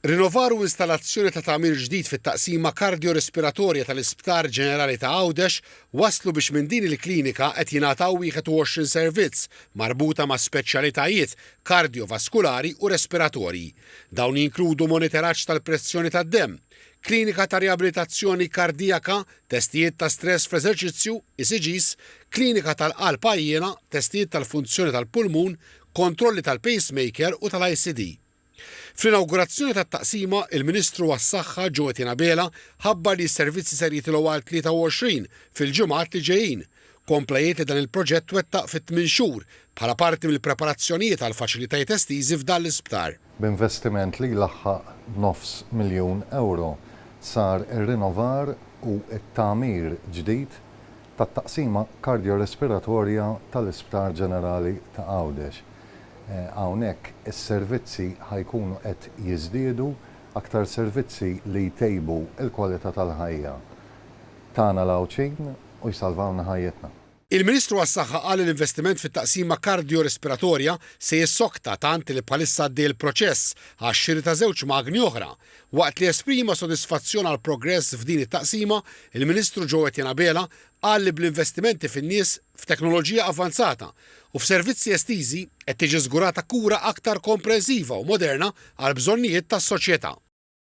Rinnovar u installazzjoni ta' tagħmir ġdid fit-Taqsima Kardjo-Respiratorja tal-Isptar Ġenerali ta' Għawdex wasslu biex minn din il-klinika qed jingħataw 21 servizz marbuta ma' speċjalitajiet kardjovaskulari u respiratorji. Dawn jinkludu moniteraġġ tal-pressjoni tad-demm, klinika ta' riabilitazzjoni kardijaka, testijiet ta' stress fl-eżerċizzju, ECGs, klinika tal-qalb għajjiena, testijiet tal-funzjoni tal-pulmun, kontrolli tal-pacemaker u tal-ICD. Fl-inawgurazzjoni tat-taqsima, il-Ministru għas-Saħħa Joe Etienne Abela ħabbar li s-servizzi ser jitilgħu għal 23 fil-ġimgħat li ġejjin. Kompla jgħid li dan il-proġett twettaq fi tmien xhur bħala parti mill-preparazzjonijiet għal faċilitajiet estiżi f'dan l-isptar. B'investiment li jlaħħaq nofs miljun ewro, sar ir-rinovar u t-tagħmir ġdid tat-Taqsima Kardjo-Respiratorja tal-Isptar Ġenerali ta' Għawdex. Hawnhekk is-servizzi ħa jkunu qed jiżdiedu, aktar servizzi li jtejbu l-kwalità tal-ħajja tagħna l-Għawdxin u jsalvawlna ħajjitna. Il-Ministru għas-Saħħa qal li l-investiment fit-Taqsima Kardjo-Respiratorja se jissokta tant li bħalissa għaddej il-proċess għax-xiri ta' żewġ magni oħra Waqt li esprima sodisfazzjon għall-progress f'din it-taqsima, il-Ministru Joe Etienne Abela qal li bl-investimenti fin-nies, f'teknoloġija avvanzata u f'servizzi estiżi qed tiġi żgurata kura aktar komprensiva u moderna għall-bżonnijiet tas-soċjetà.